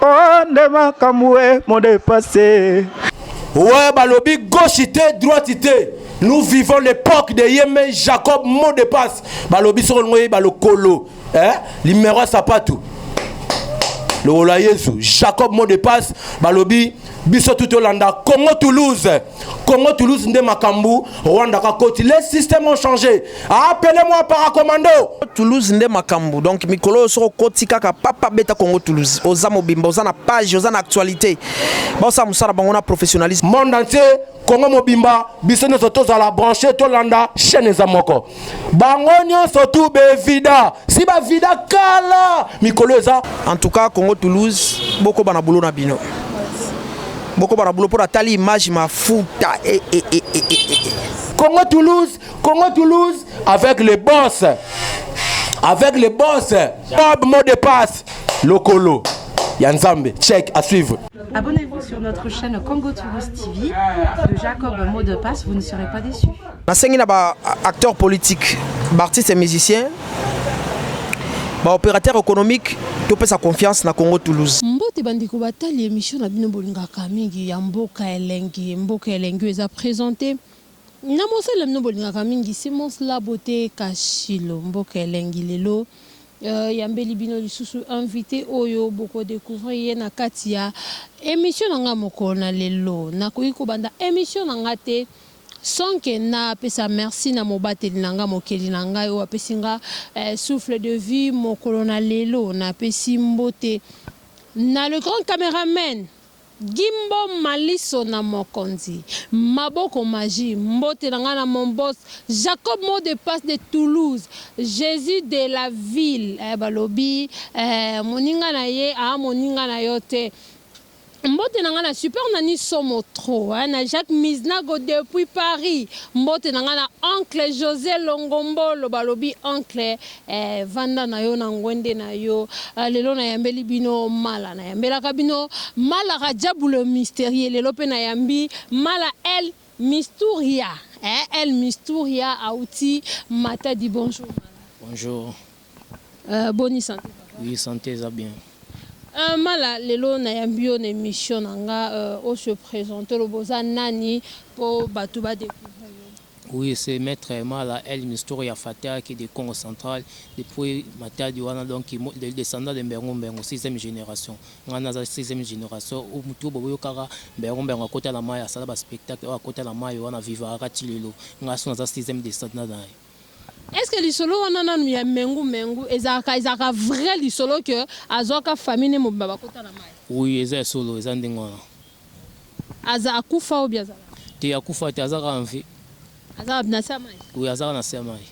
Oh, nde makambo e modepase. Ouais, balobi gauche te, droite te. Nous vivons l'époque de Yeme Jacob mot de passe. Balobi soko ngoye balokolo. Hein? Limero sapatu. Lola Yesu, Jacob mot de passe, balobi biso tu tolanda congo toulouse congo toulouse nde makambo rwanda kakoti les systèmes ont changé appele moi paracommando toulouse nde makambo donc mikolo oyo soki okoti kaka papa beta congo toulouse oza mobimba oza na page oza na actualité baosala mosala bango na professionnalisme monde entier Congo mobimba biso nyonso tozala branche tolanda chaîne eza moko bango nyonso tu bevida si bavida kala mikolo eza en tout cas Congo Toulouse bokoba na boulot na bino bokoba na boulot mpo natali image mafuta e, e, e, e, e, e. Congo Toulouse Congo Toulouse avec les boss avec les boss Bob mot de passe lokolo ya nzambe check à suivre Abonnez-vous sur notre chaîne Congo Tourist TV de Jacob Mot de Passe, vous ne serez pas déçus. nasengi na baacteur politique baartiste ya musicien baopérateur économique topesa confiance na congo toulouse mbote bandeko batali emission na bino bolingaka mingi ya mboka elengi mboka elengi oyo eza présente Na mosala bino bolingaka mingi Simons la beaute kashilo mboka elengi lelo euh yambeli bino lisusu invite oyo boko decouvrir ye na kati ya emission na nga mokolo na lelo nakoki kobanda emission na nga te sans que na pesa merci na mobateli na nga mokeli na ngai oyo apesi nga eh, souffle de vie mokolo na lelo napesi mbote na le grand cameraman Gimbo maliso na mokonzi maboko magie mbote na nga na mon boss Jacob mot de passe de Toulouse Jesus de la ville eh balobi eh moninga na ye ah moninga na yo te mbote na nga na super nani somo trop eh na Jacques Miznago depuis Paris mbote na nga na oncle Jose Longombolo balobi oncle Eh vanda na yo na ngwende na yo ah, Lelo na yambeli bino mala Na yambelaka bino mala Radjabu le mysterieux Lelo pe na yambi mala El Misturia eh, El Misturia Auti Matadi Bonjour mala Bonjour euh, Boni santé papa Oui santé eza bien Euh, mala lelo na yambi yo na émission na nga euh, o se présente lobo oza nani po bato ba découvrir Oui ce maitre mala el mistoro ya fataki de kongo central depuis matadi wana donc le descendant de mbengu mbengu sixième generation ngai naza sixième generation ou mutu bo boyokaka mbengu mbengu akota na mayi asala ba spectacle oyo akota na mayi wana vivaka ti lelo ngai so naza sixième descendant na ye. Est-ce que lisolo wana nanu ya Mengu Mengu ezalaka ezalaka vrai lisolo que azuaka famille ne mobimba bakota na mayi? Oui eza ya solo eza ndenge wana. Aza akufa obi aza kaka. Te akufa te aza kaka en vie. Aza wapi na se ya mayi? Oui aza kaka na se ya mayi.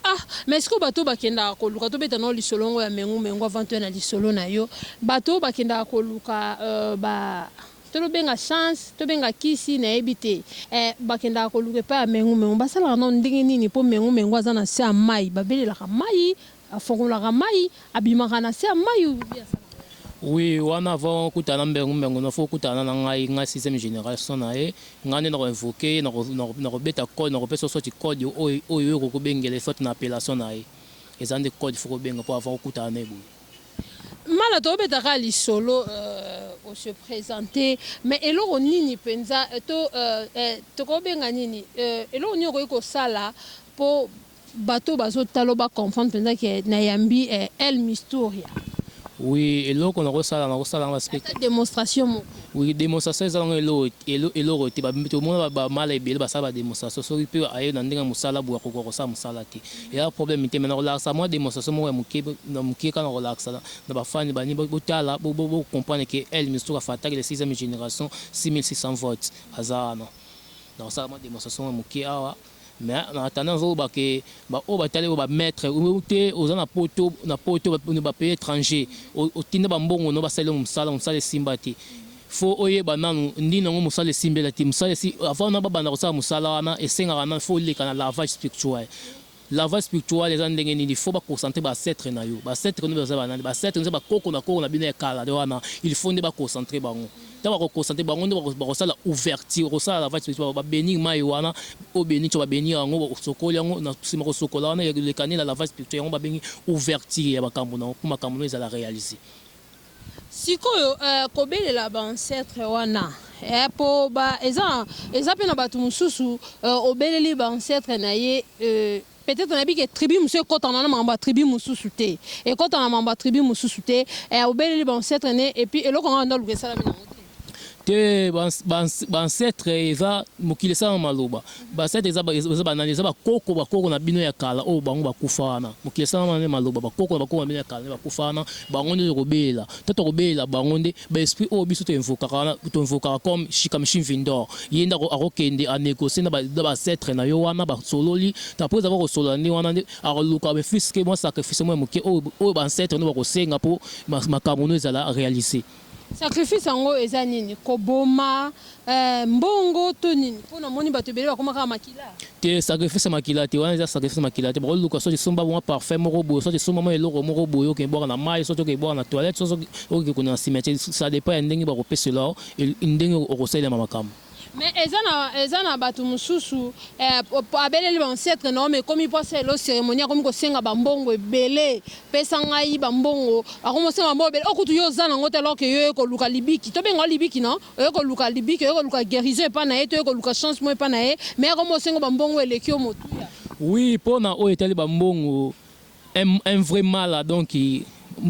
Ah mais sikoyo bato oyo bakendaka koluka tobeta na yo lisolo yango ya mengu mengu avant toya na lisolo na yo bato oyo bakendaka koluka euh, ba tolobenga chance tobenga kisi nayebi te eh, bakendaka koluka epai ya mengu mengu basalaka nano ndenge nini mpo mengu mengu aza na se ya mayi babelelaka mayi Afongolaka mayi abimaka na se ya mayi ou bien asalaka nini? Oui wana avant okutana na mbengu mbengu no faut okutana na ngai ngai sixième generation na ye ngai nde nako invoquer ye nako beta code nako pesa yo soit code oyo yo okoki kobengela ye soit na appellation na ye eza nde code faut kobenga po avant okutana na ye boye. Mala tobeta kaka lisolo o se presenter mais eloko nini penza to tokobenga nini eloko nini okoki kosala po Bato oyo bazo talo ba comprendre penza ke na yambi eh El Mistoria. Oui eloko nako sala nako sala yango parce que. Ata demonstration moko. Oui demonstration eza nango eloko eloko te ba to mona ba mala ebele ba sala ba demonstration soki pe aye na ndenge ya musala boye akoka ko sala musala te eza problème te mais nako lakisa mua demonstration moko ya muke na muke kaka nako lakisa na na ba fans ba nini bo tala bo bo comprendre ke El Mistoura Fataki le sixième generation 6600 votes aza wana nako sala mua demonstration ya muke awa Mais en attendant nazo loba que ba oyo ba tali yo ba maitre ou te oza na poto na poto ba pays etranger otinda ba mbongo no ba sali yo musala musala esimba te faut oyeba nanu ndini yango musala esimbela te musala esi avant na ba banda ko sala musala wana esengaka nanu faut oleka na lavage spirituel lavage spirituel eza ndenge nini faut ba concentre ba ancetre na yo ba ancetre no baza ba nani ba ancetre no eza ba koko na koko na bino ya kala nde wana il faut nde ba concentre bango Tango bako constate bango nde bako sala ouverture oko sala lavage spirituel ba benir mayi wana o benir co ba benir yango osokoli yango na sima ko sokola wana eleka nde na lavage spirituel yango ba bengi ouverture ya makambu na yo po makambu na yo ezala realise. Sikoyo eh ko belela ba ancetres wana eh po ba eza eza pe na batu mususu eh obeleli ba ancetres na ye eh. Peut etre nayebi ke tribu mosusu ekotana na makambo ya tribu mosusu te, ekotana na makambo ya tribu mosusu te, eh, obeleli ba ancetre ne, et puis eloko yango ya ndaluka esalami na yango te, ba ancetre eza mokili esala na maloba, ba ancetre eza eza ba nani, eza ba koko ba koko na bino ya kala oyo bango bakufa wana, mokili esala na maloba, ba koko na ba koko na bino ya kala nde bakufa wana, bango nde tokobelela, to tokobelela bango nde ba esprit oyo biso to invokaka wana to invokaka comme Shikamshi Mvindor ye nde ako akokende a negocier na ba na ba ancetres na yo wana ba sololi te après avoir kosolola nde wana nde akoluka mais fut ce que mwa sacrifice moko ya moke oyo oyo ba ancetres na yo bakosenga po makambo na yo ezala realiser. Sacrifice yango eza nini? Koboma Eh mbongo to nini po na moni bato ebele bakoma kaka makila. Te sacrifice makila te wana eza sacrifice makila te bako luka soki somba mwa parfum moko boye soki somba mwa eloko moko boye oke bwaka na mayi soki oke bwaka na toilette soki oke kuna na cimetière ça depend ya ndenge bako pesela yo ndenge oko salelama makambo. Mais eza na eza na bato mosusu eh abeleli ba ancetre na yo mais ekomi po asalela yo ceremonie akomi kosenga ba mbongo ebele Pesa ngai ba mbongo ako mosenga ba mbongo ebele oyo kutu yo oza nango te alors que yo oye koluka libiki tobenga yo libiki non oye koluka libiki oye koluka guerison epa naye to oye koluka chance moko epa naye mais ako mosenga ba mbongo eleki yo motuya. Oui pona oyo etali ba mbongo un un vrai mala donc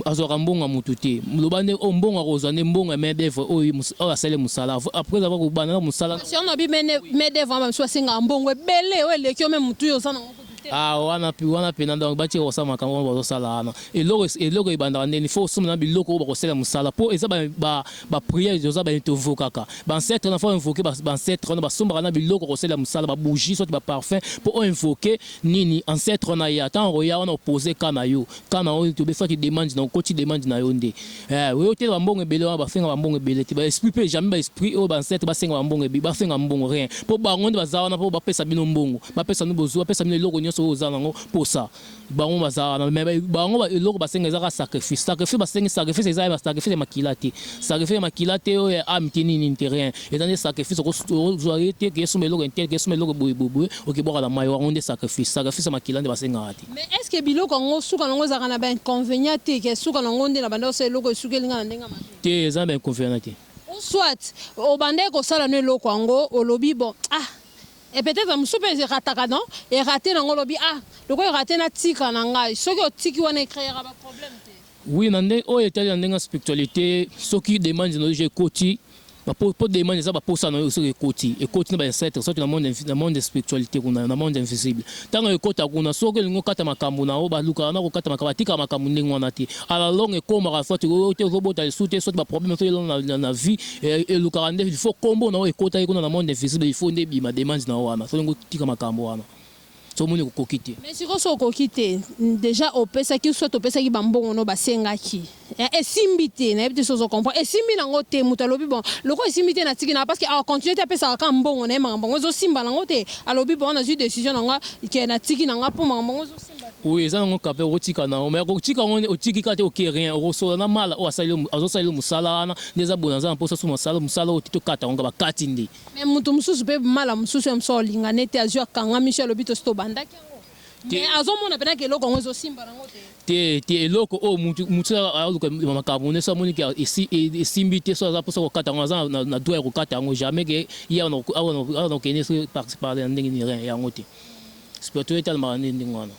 azwaka mbongo ya mutu te loba nde oyo oh, mbongo akozwa nde mbongo ya main d'oeuvre oyo oyo asali musala après avoir kobanda na musala. Siano bi main d'oeuvre wana bamisusu basengaka mbongo ebele oyo eleki yo meme mutu yo oza nango Ah wana pi wana pena donc bati kosa makambo wana bazosala wana eloko eloko ebandaka ndeni fo osomba na biloko oyo bakosala mosala po eza ba ba, ba prière oza ba tovokaka ba ancêtre na fo invoquer ba, ba ancêtre wana basombaka na biloko kosala mosala ba bougie soit ba parfum po o invoquer nini ancêtre wana ya tango ya wana opose ka na yo Kaka na oyo tobesaki demande na okoti demande na yo nde eh oyo te ba mbongo ebele wana ba fenga ba mbongo ebele te ba esprit pe jamais ba esprit oyo ba ancêtre ba senga ba mbongo ebi ba fenga mbongo rien po bango nde baza wana po ba pesa bino mbongo ba pesa bino bozuwa pesa bino eloko nionso oyo oza na ngo posa bango baza wana mais bango ba eloko ba senga eza kaka sacrifice sacrifice ba sengi sacrifice eza ba sacrifice ya makila te sacrifice ya makila te oyo ya ame te nini nini te rien eza nde sacrifice oko ozwa ye te ke esomba eloko intel ke esomba eloko boye boye boye okebwaka na mayi wango nde sacrifice sacrifice ya makila nde ba senga Mais est ce que biloko yango suka na yango ezalaka na ba inconvenients te que suka na yango nde na bandaki kosala eloko esukeli nga na ndenge ya mabe? Te eza na ba inconvenients te. Ou soit obandaki kosala no eloko yango olobi bon ah et peut etre mususu pe e rataka donc e rate na yango olobi ah lokola e rate natika na ngai soki otiki wana e creera ba problème te? Oui na nde oyo etali na ndenge ya spiritualite soki demande na yo je ekoti ba po po demande eza ba posa na yo soki ekoti ekoti na ba ancêtre soki na monde na monde spiritualite kuna na monde invisible tango ekota kuna soki elingi okata makambu na yo ba lukaka na kokata makambu batika makambu ndenge wana te à la longue ekomaka soit yo te ozobota lisusu te soit ba problème soki elongo na, na vie elukaka nde il faut kombo na yo ekotaki kuna na monde invisible il faut nde ebima demande na yo wana soki olingi otika makambu wana soki omoni okoki te. Mais sikoyo soki okoki te dejà opesaki ou soit opesaki ba mbongo no basengaki eh esimbi te nayebi te soki ozo comprendre esimbi nango te mutu alobi bon lokola esimbi te natiki nayo parce que a continuer te apesaka kaka mbongo naye makambo yango ezo simba nango te alobi bon nazui decision na nga que natiki na nga po makambo yango ezo simba te. Oui eza nango kaka pe okotika nayo mais kotika yango nde otiki kaka te oke rien okosola na mala oyo asali yo azo salela yo musala wana nde eza boye naza na posa soki masala musala oyo te tokata yango kaka bakati nde. Mais mutu mususu pe mala mususu ye mususu akolinga ne te azui akangami soki alobi tosi tobandaki yango mais azo mona pena ke eloko yango ezo simba nango te. Te te eloko oyo mutu mutu soki aluka makambu ne soki amoni ke esi esimbi te soki aza posa kokata yango aza na droit ya kokata yango jamais ke ye awa na awa na awa na kokende soki par ci par là na ndenge nini rien yango te spirituel etalmaka nde ndenge wana.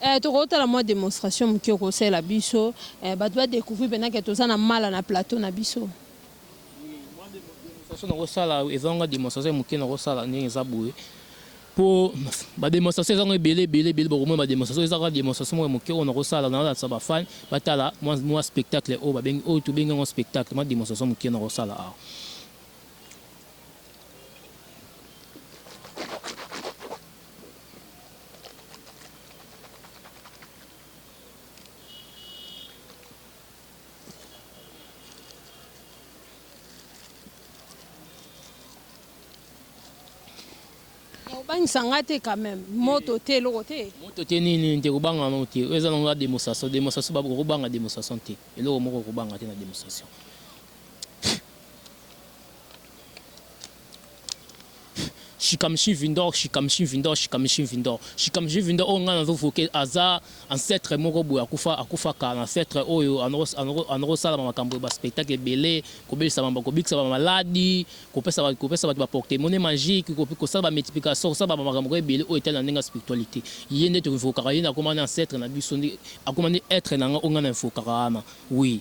Eh toko tala mua demonstration mukie oko salela biso eh batu ba decouvrir pena ke toza na mala na plateau na biso. Demonstration na kosala eza nga demonstration ya moke na kosala ndenge eza boye po ba demonstration eza nga ebele ebele ebele bakomona ba demonstration eza kaka demonstration moko ya moke oyo na kosala na olatisa ba fan batala mwa mwa spectacle oyo babengi oyo tobengi yango spectacle mwa demonstration moke na kosala awa obangisa nga te quand même moto te eloko te moto te nini nte kobanga yango te oyo eza nango ya démonstration démonstration baboka kobanga démonstration te eloko moko okobanga te na démonstration Shikamshi Vindor Shikamshi Vindor Shikamshi Vindor Shikamshi Vindor oyo ngai nazo voke aza ancetre moko boye akufa akufa kala ancetre oyo ano kosala ba makambo ya ba spectacle ebele kobelisa ba kobikisa ba maladi kopesa ba kopesa bato ba porte monnaie magique kosala ba multiplication kosala ba makambo moko ebele oyo etali na ndenge ya spiritualite ye nde to invokaka ye nde akoma nde ancetre na biso nde akoma nde etre na ngai oyo ngai na invokaka wana oui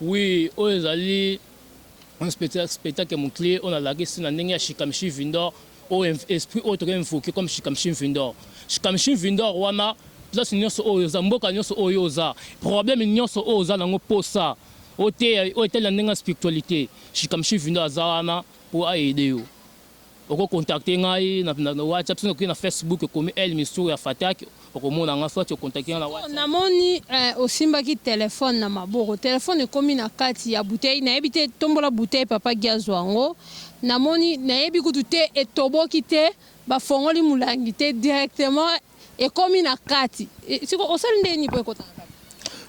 Oui, oyo ezali un spectacle, spectacle mokle oyo nalakisi na ndenge ya Shikamishi Vindor oyo esprit oyo tokoki invoke comme Shikamishi Vindor. Shikamishi Vindor wana place nyonso oyo oza, mboka nyonso oyo oza, problème nyonso oyo oza nango posa oteya oyo etali na ndenge ya spiritualité, Shikamishi Vindor aza wana mpo aide yo. Oko contacter ngai na WhatsApp soki okeyi na Facebook okomi El Misour ya Fatak okomona nga soit o contacter nga na WhatsApp. Na moni eh osimbaki telephone na maboko telephone ekomi na kati ya bouteille na yebi te tombola bouteille papa Guy azua yango na moni na yebi kutu te etoboki te ba fongoli mulangi te directement Ekomi na kati. E, siko osali nde nini po ekota na kati?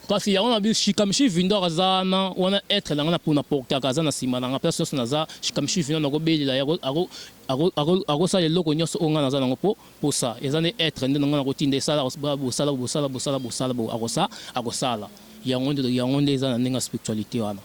Kasi yango na bi Shikamishi Vindor aza na wana être na nga na pona portaka aza na sima na nga place nyonso naza Shikamishi Vindor nako belela ye ako ako ako akosala eloko nyonso oyo nga naza nango po posa eza nde être nde na nga nako tinda esala bosala bosala bosala bosala bo akosa akosala yango nde yango nde eza na ndenge ya spiritualite wana.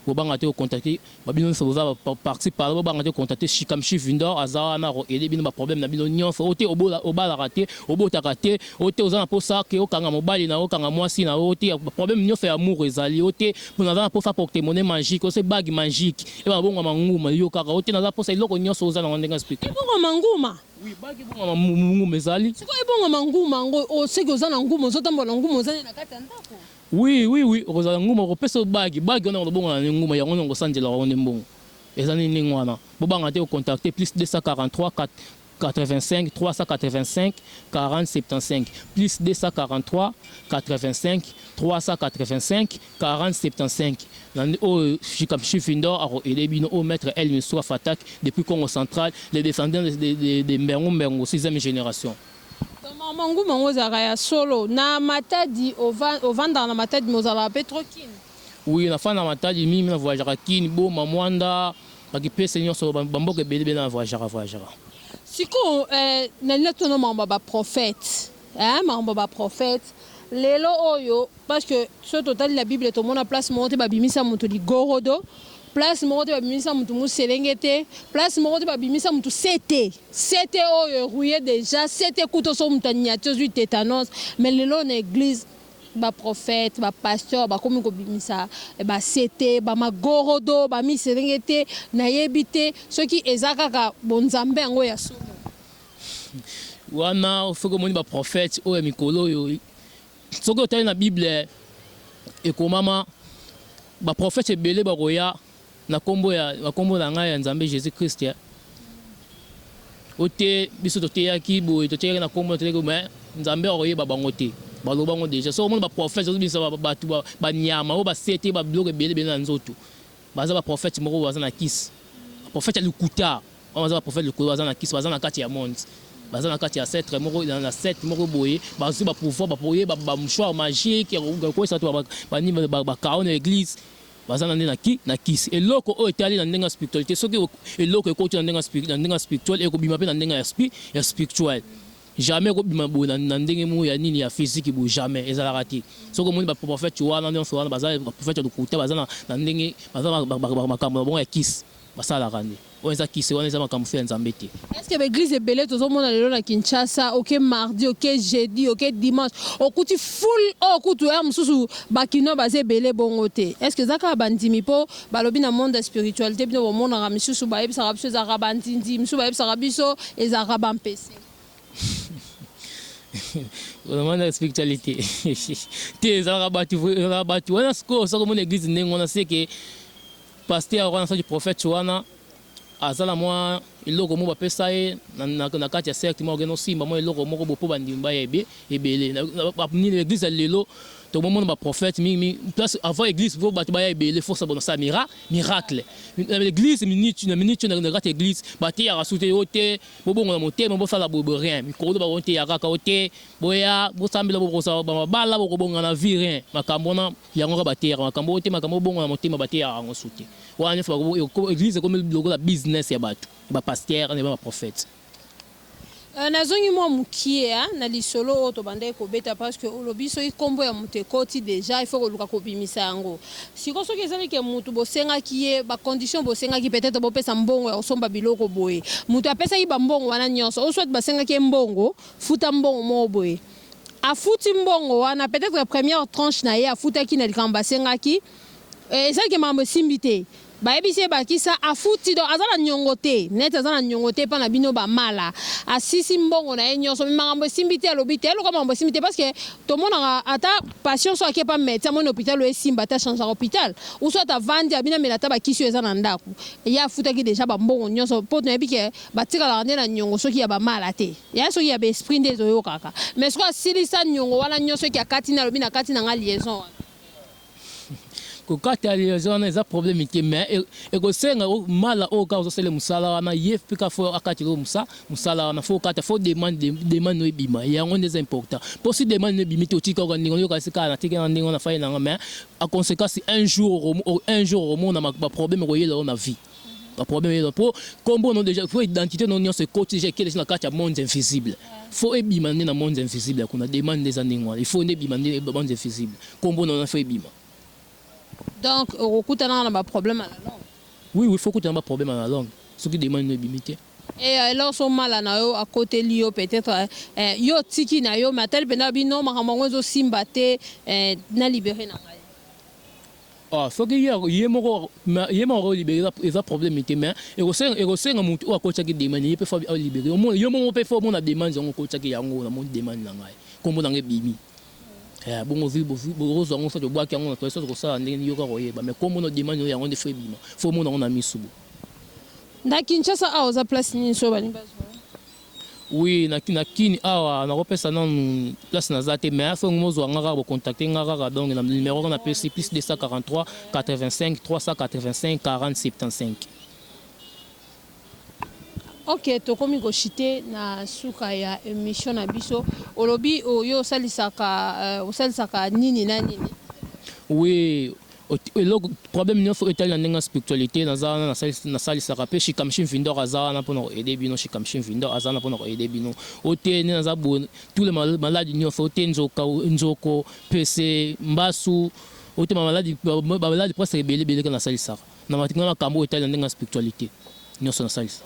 Bo banga te ko contacte ba bino nionso boza ba parti pala bo banga te ko contacte shikamshi vindor aza wana ako aider bino ba problème na bino nionso o te obola obalaka te obotaka te o te oza na posa que okanga mobali na yo okanga muasi na yo o te ba problème nionso ya amour ezali o te po naza na posa porte monnaie magique o se bague magique e banga bongama nguma yokaka o te naza posa eloko nionso oza na ngo ndenge na explique Ebongama nguma? Oui bague ebongama nguma ezali. Sikoyo ebongama nguma yango o seke oza na nguma ozo tambola na nguma oza nde na kati ya ndaku? Oui oui oui okozala nguma okopesa yo bague bague wana ekolobongola na yo nguma yango nde okosanjela yango nde mbongo eza nini ndenge wana bobanga te ko contacter plus 2438385385 plus 2438385385 nande oyo Shikamshi Findor ako aider bino oyo maitre El Missoua Fatak depuis Kongo central les descendants de de de Mbengu Mbengu sixième generation. Donc maman nguma yango ezalaka ya solo na matadi ovandaka na matadi mais ozalaka pe trop kin. Oui na fanda na matadi mingi mais na voyageaka kin, boma, muanda, ba kipese nionso ba mboka ebele ebele na voyageaka voyageaka. Sikoyo eh nalingi na tuna makambo ya ba prophète eh makambo ya ba prophète lelo oyo parce que soki totali na bible tomona place moko te ba bimisa mutu ligorodo place moko te ba bimisa mutu muselenge te place moko te ba bimisa mutu sete CT oyo e rouiller dejà CT kutu oso mutu anyati ozui tetanos mais lelo na eglise ba prophète ba pasteur bakomi kobimisa ba CT ba magorodo ba miserengete na yebi te soki eza kaka bo nzambe yango ya solo. Wana soki omoni ba prophète oyo ya mikolo oyo soki otali na bible ekomama ba prophète ebele bakoya. Na kombo ya na kombo na ngai ya Nzambe Jesus Christ o te biso to teyaki boye to teyaki na kombo na teyaki mais Nzambe oko yeba bango te ba loba ngo deja soki omoni ba prophète ozo bisa ba batu ba nyama oyo ba sete ba biloko ebele ebele na nzoto baza ba prophète moko baza na kisi ba prophète ya lokuta wana baza ba prophète lokuta baza na kisi baza na kati ya monde baza na kati ya setre moko na sete moko boye bazwi ba pouvoir ba poye ba mouchoir magique ya kokwesa to ba nini ba kaone eglise Baza na nde na ki na kisi. Eloko oyo etali na ndenge ya spiritualite soki eloko ekoti na ndenge ya na ndenge ya spiritual ekobima pe na ndenge ya spi ya spiritual jamais ekobima boye na na ndenge moko ya nini ya physique boye jamais ezalaka te soki omoni ba prophète wana nionso wana baza ba prophète ya lokuta baza na na ndenge baza ba makambo na bango ya kisi Basalaka nde. Wana eza kisi wana eza makambu feu ya nzambe te. Est ce que ba eglise ebele tozo mona lelo na Kinshasa oke mardi oke jeudi oke dimanche okuti foul oyo kutu heure mususu ba kinois baza ebele bongo te est ce que eza kaka ba ndimi po balobi na monde ya spiritualite bino bomonaka misusu ba yebisaka biso ezalaka ba nzinzi misusu ba yebisaka biso ezalaka ba mpese vraiment na spiritualite te ezalaka batu ezalaka batu wana sikoyo soki omona eglise ndenge wana seke Pasteur wana soki prophète wana aza na mwa eloko moko bapesa ye na kati ya cercle moko akende osimba mwa eloko moko bo mpo bandimi baya ebele nini eglise ya lelo tomomona baprophète mingi place avant eglise mpo bato baya ebele fosa bona sa mira miracle na eglise minute na minute na kati ya eglise bateyaka su te yo te bobongo na motema bosala boye boye rien mikolo bakoteya kaka yo te boya bosambela bokozala bamabala bokobonga na vie rien makambo wana Yango kaka bateyaka makambo oyo te, makambo obongo na motema bateyaka yango su te. Wana nionso bakobo eko eglise ekomi lokola business ya batu, ya ba pasteur na ba prophete. Euh, nazongi mua mukie hein, na lisolo oyo tobandaki kobeta parce que olobi soki kombo ya mutu ekoti dejà il faut koluka kobimisa yango. Sikoyo soki ezali ke mutu bosengaki ye ba conditions bosengaki peut-etre bopesa mbongo ya kosomba biloko boye, mutu apesaki ba mbongo wana nionso ou soit basengaki ye mbongo, futa mbongo moko boye. afuti mbongo wana peut etre première tranche na ye afutaki na likambo basengaki eh, eza ke makambo esimbi te bayebisi ye bakisa afuti donc aza na niongo te net aza na niongo te epa na bino bamala asisi mbongo na ye nyonso me makambo esimbi te alobi te eloka makambo esimbi te parce que tomonaka ata patient so ake epa medecin amoni hopital oyo esimba ata changeaka hopital uso ata avandi abina mela ata bakisi oyo eza na ndako ye afutaki deja bambongo nyonso mpo toyebi ke batikalaka nde na niongo soki ya bamala te Ya soki ya ba esprit nde ezo yokaka mais sikoyo asilisa niongo wana nionso soki akati nde alobi nakati na nga liaison wana. Kokata liaison wana eza problème te mais e, ekosenga mala oyo kaka ozosala mosala wana ye mpe kaka fo akatela oyo mosa mosala wana fo okata fo demande demande oyo ebima yango nde eza important mpo si demande ebimi te otika oka ndenge oyoka sika na teke na ndenge wana fai na nga mais a conséquence un jour un jour okomona ba problème ekoyela yo na vie ba problème eza po kombo no deja faut identité no nyonso ekoti deja ekeli na kati ya monde invisible faut ebima nde na monde invisible ya kuna demande nde eza ndenge wana il faut nde ebima nde monde invisible kombo no na faut ebima donc okokutana na ba problème ya langue oui oui faut kutana ba problème ya langue soki demande no ebimi te et eh, alors so mala na yo akoteli yo peut-être eh, eh, yo tiki na yo mais atali mpenza bino makambo yango ezosimba te eh, na libere na ngai Ah soki ye ye moko mais ye moko ako libere eza problème te mais ekosenga ekosenga mutu oyo akotisaki demande ye pe faut a libere omona yo moko pe faut omona demande yango okotisaki yango na moni demande na ngai kombo na ngai ebimi eh bongo vi bovi bokozwa yango soit obwaki yango na toile soit okosala ndenge nini yo kaka oyeba mais kombo na demande oyo yango nde faut ebima faut omona yango na misu boye. Na Kinshasa awa oza place nini soki balingi bazua yo? Oui na na kin awa nako pesa nanu place naza te mais aso mo zua nga kaka bo contacter nga kaka donc na numero nga na pesi plus 2433854075. Ok tokomi ko chute na suka ya emission na biso olobi yo osalisaka osalisaka nini na nini. Oui. Eloko problème nionso oyo etali na ndenge ya spiritualite naza wana nasalisaka pe Shikamshi Mvindor aza wana pona ko aider bino Shikamshi Mvindor aza wana pona ko aider bino o te nde naza boye tous les malades nionso o te nzoka nzoko pese mbasu o te ba malade ba malade presque ebele ebele kaka nasalisaka na makambo oyo etali na ndenge ya spiritualite nionso nasalisaka.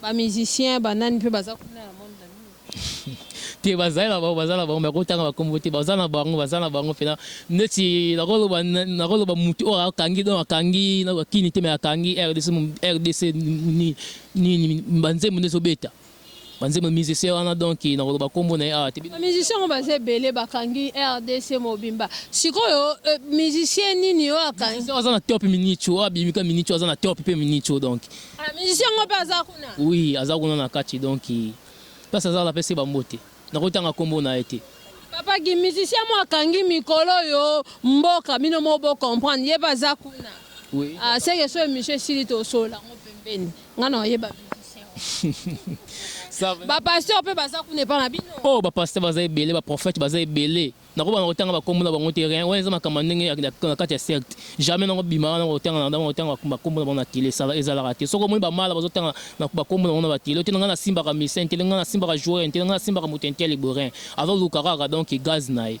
Ba musiciens ba nani pe baza kuna na monde na bino? Te bazali na bango baza na bango mais ko tanga ba kombo te baza na bango baza na bango pena neti nako loba nako loba mutu oyo akangi donc akangi na ba kini te mais akangi rdc rdc nini nini ba nzembo nde ezo beta ba nzembo musicien wana donc nako loba kombo na ye awa te Ba musiciens yango baza ebele bakangi rdc mobimba sikoyo musicien nini oyo akangi? Musicien oyo aza na top minico oyo abimi ka minico aza na top pe minico donc. Ah, musicien yango mpe aza kuna? Oui, aza kuna na kati donc place aza la pese bambote. Nakotanga kombo na ye te. Papa Guy, musicien mo akangi mikolo yo mboka bino mo bo comprendre ye baza kuna. Oui. Ah, c'est que so emission esili to sola ngo pembeni. Nga na yeba musicien. Ça va. Ba pasteur pe baza kuna epa na bino. Oh, ba pasteur baza ebele, ba prophète baza ebele. Nako banda kotanga ba kombo na bango te rien wana eza makambo ya ndenge ya na kati ya secte jamais nako bima wana nako tanga nako tanga ba kombo na bango na tele ça va ezalaka te soki omoni ba mala bazo tanga na ba kombo na bango na ba tele otele nga na simbaka musiciens te nga na simbaka joueurs te nga na simbaka moto ya ntele boye rien azo luka kaka donc gaz na ye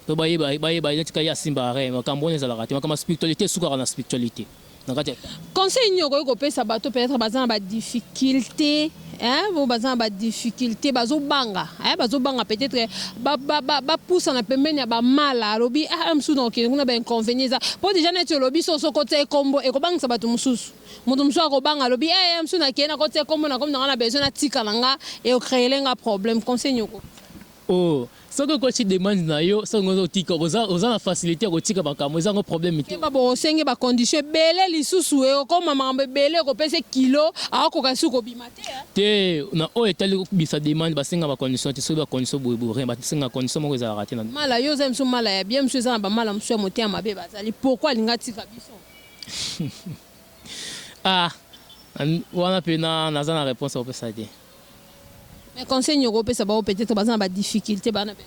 po ba yeba ba yeba ye neti ka ye asimba rien makambo wana ezalaka te makambo ya spiritualite esukaka na spiritualite. na kati ya conseil nini okoki kopesa bato peut-être baza na ba difficultés hein bo baza na ba difficultés bazo banga hein bazo banga peut-être ba ba ba, ba pousa na pembeni ya ba mala alobi ah mususu na okende kuna ba inconvénients eza po déjà neti olobi so so kotsa ekombo ekobangisa bato mususu moto mususu akobanga alobi eh ya mususu na kende na kotsa ekombo na komi na nga na besoin na tika na nga e créer nga problème conseil nini oko oh Soki okoti demande na yo soki oza otika oza oza na facilite ya kotika makambo eza yango probleme te. Keba bokosenge ba conditions ebele lisusu ekokoma makambo ebele okopese kilo akokoka lisusu kobima te hein. Te na oyo etali kobimisa demande basenga ba conditions te soki ba conditions boye boye rien basenga condition moko ezalaka te na. Mala yo oza lisusu mala ya bien misusu eza na ba mala mususu ya motema mabe bazali pourquoi alingi atika biso. Ah wana pena naza na reponse ya kopesa te. Mais conseil nini okopesa baoyo peut etre baza na ba difficultes bana pe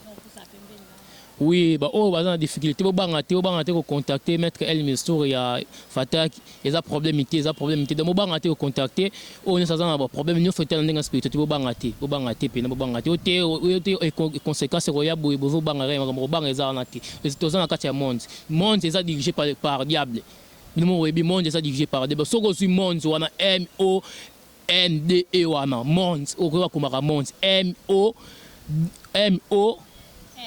Oui, ba oyo baza na difficulté bo banga te, bo banga te ko contacter maître El Mistour ya Fatak, eza problème te, eza problème te. Donc bo banga te ko contacter oyo nyoso aza na ba problème nyoso te na ndenge spiritualité, bo banga te, bo banga te pena, bo banga te. Oyo te, oyo te e conséquence ko ya boye bozo banga rien, makambo ko banga eza wana te. Toza na kati ya monde. Monde eza dirigé par, par diable. Bino mo boyebi monde eza dirigé par diable. Soki ozui monde wana M O NDE wana monds oyo koyeba komaka monds MO MO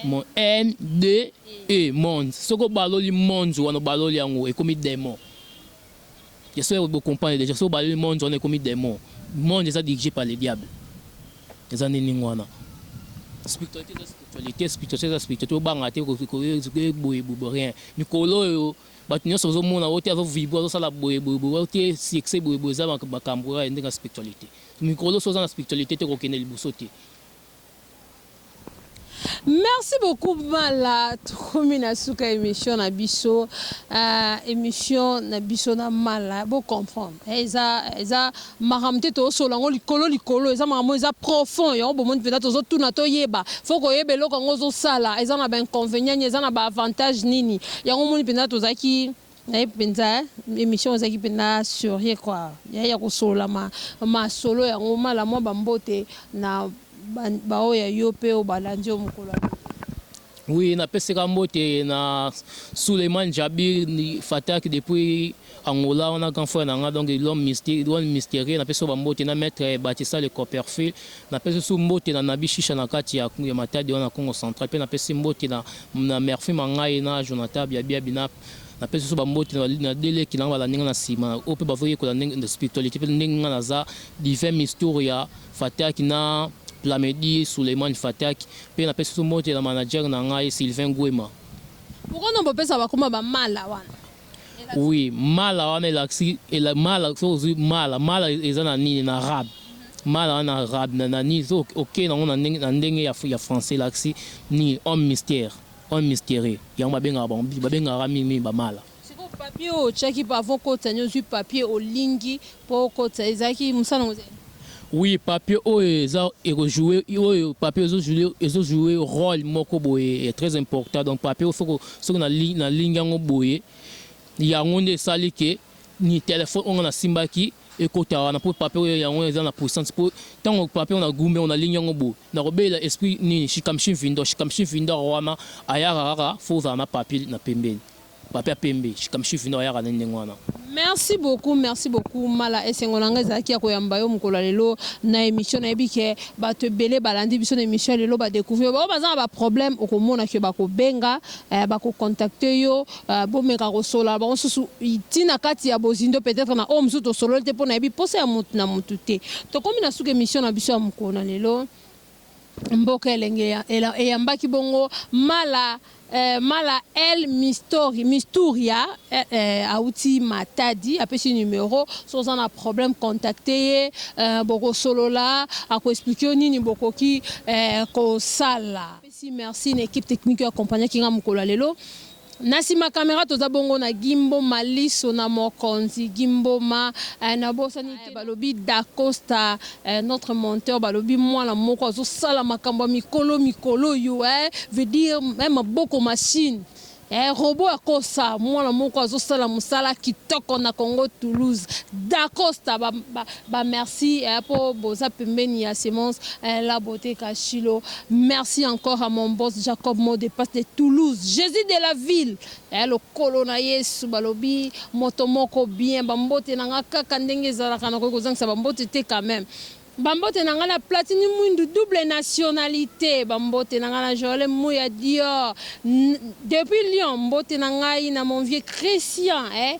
Mo N D E monds soki obaloli monds wana obaloli yango ekomi demon ya soki oyebi comprendre déjà soki obaloli monds wana ekomi demon monds eza dirige par le diable eza nini ningo wana spiritualité eza spiritualité spiritualité eza spiritualité obanga te boye boye rien mikolo oyo Batu nionso ozo mona oyo te azo vibre azo sala boye boye boye oyo te succès boye boye eza makambu kaka ya ndenge ya spiritualite mikolo soki oza na spiritualite te okokende liboso te. Merci beaucoup mala tokomi na suka ya emission na biso emission na biso na mala bo comprendre eza eza Makambo te tozo solola yango likolo likolo eza makambo oyo eza profond yango bomoni penza tozo tuna toyeba faut koyeba eloko yango ozo sala eza naba inconvenient nini eza naba avantage nini yango omoni penza tozalaki nayebi penza emission ezalaki penza serieux quoi ya ya kosolola ma masolo yango mala mwa ba mbote na ba ba oyo ya yo pe oyo balandi yo mokolo ya lobi. Oui napeseka mbote na Suleiman Djabir Fatak depuis. Angola wana grand frère na nga donc l'homme mystique l'homme mysterieux na pesi yo ba mbote na maitre Batista le Copperfield na pesi lisusu mbote na Nabi Shisha na kati ya ya Matadi wana Kongo central pe na pesi mbote na na Murphy Mangayi na Jonathan Biabiabi na na pesi lisusu ba mbote na na deux leki na nga ba landi nga na sima oyo pe bazo yekola ndenge na spiritualite pe ndenge nga na za divin mistour ya Fataki na Plamedi Suleiman Fataki pe na pesi lisusu mbote na manager na ngai Sylvain Guema. Pourquoi non bopesa ba kuma ba mala wana? Oui mala wana elakisi mala soki ozui mala mala eza na nini na rab mala wana na rab na na nini soki oke nango na ndenge na ndenge ya ya français elakisi nini homme mystère homme mysterieux yango babengaka bango babengaka mingi mingi ba mala. Sikoyo papier oyo otiaki avant okotisa nini ozui papier olingi Po okotisa ezalaki musala nango te? Oui papier oyo eza eko joue oyo papier ezo joue ezo joue role moko boye ya très important donc papier oyo faut soki na lingi yango boye yango nde esali ke ni telephone oyo nga na simbaki ekota wana po papier oyo yango eza na puissance po tango papier oyo na gumbi yango na lingi yango boye na ko belela esprit nini shikamshin vindo shikamshin vindo wana ayaka kaka faut ozala na papier na pembeni Papy ya pembe shikamshifu nde ayaka nde ndenge wana. Merci beaucoup merci beaucoup mala esengo na ngai ezalaki ya koyamba yo mokolo ya lelo na emission nayebi ke batu ebele balandi biso na emission ya lelo ba decouvrir yo baoyo baza na ba problème okomona ke bakobenga eh, bakocontacte yo eh, bomeka kosolola bango susu ti na kati ya bozindo peut-être na oyo mosusu tosololi te mpo nayebi mposa ya motu na motu te tokomi na suka emission na biso ya mokolo na lelo Mboka elenge eyambaki bongo Mala eh, Mala El Mistori, Misturia eh, eh, awuti Matadi, apesi numero, so oza na problème contacte ye eh, bokosolola, ako explique yo nini bokoki eh, kosala. Apesi merci na equipe technique oyo accompagnaki nga mokolo ya lelo. Na sima camera toza bongo na gimbo maliso na mokonzi gimboma eh, na bosani te balobi dacosta eh, notre monteur balobi mwana moko azo sala makambo ya mikolo mikolo yo eh, veut dire eh, maboko machine eh, robot ya kosa mwana moko azo sala musala kitoko na congo toulouse dacosta ba, ba, Ba merci eh, po boza pembeni ya semence eh, la beaute kashilo merci encore à mon boss Jacob mot de passe de Toulouse Jesus de la ville eh, lokolo na Yesu balobi moto moko bien ba mbote na nga kaka ndenge ezalaka nakoki kozangisa ba mbote te quand même ba mbote na nga na platini mwindu double nationalité ba mbote na nga na Joël Muya Dior N- depuis Lyon mbote na ngai na mon vieux Christian eh,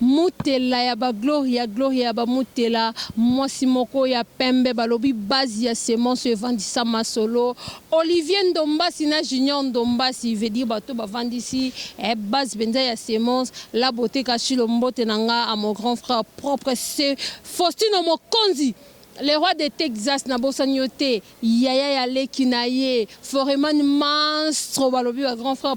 Mutela ya ba gloria gloria ya ba mutela mwasi moko ya pembe balobi base ya semence evandisa masolo olivier ndombasi na junior ndombasi veut dire bato bavandisi eh base penza ya semence la beaute kashilo mbote na nga à mon grand frère propre ce faustino mokonzi le roi de texas nabosani yo te yaya ya leki na ye foreman manstro balobi ba grand frère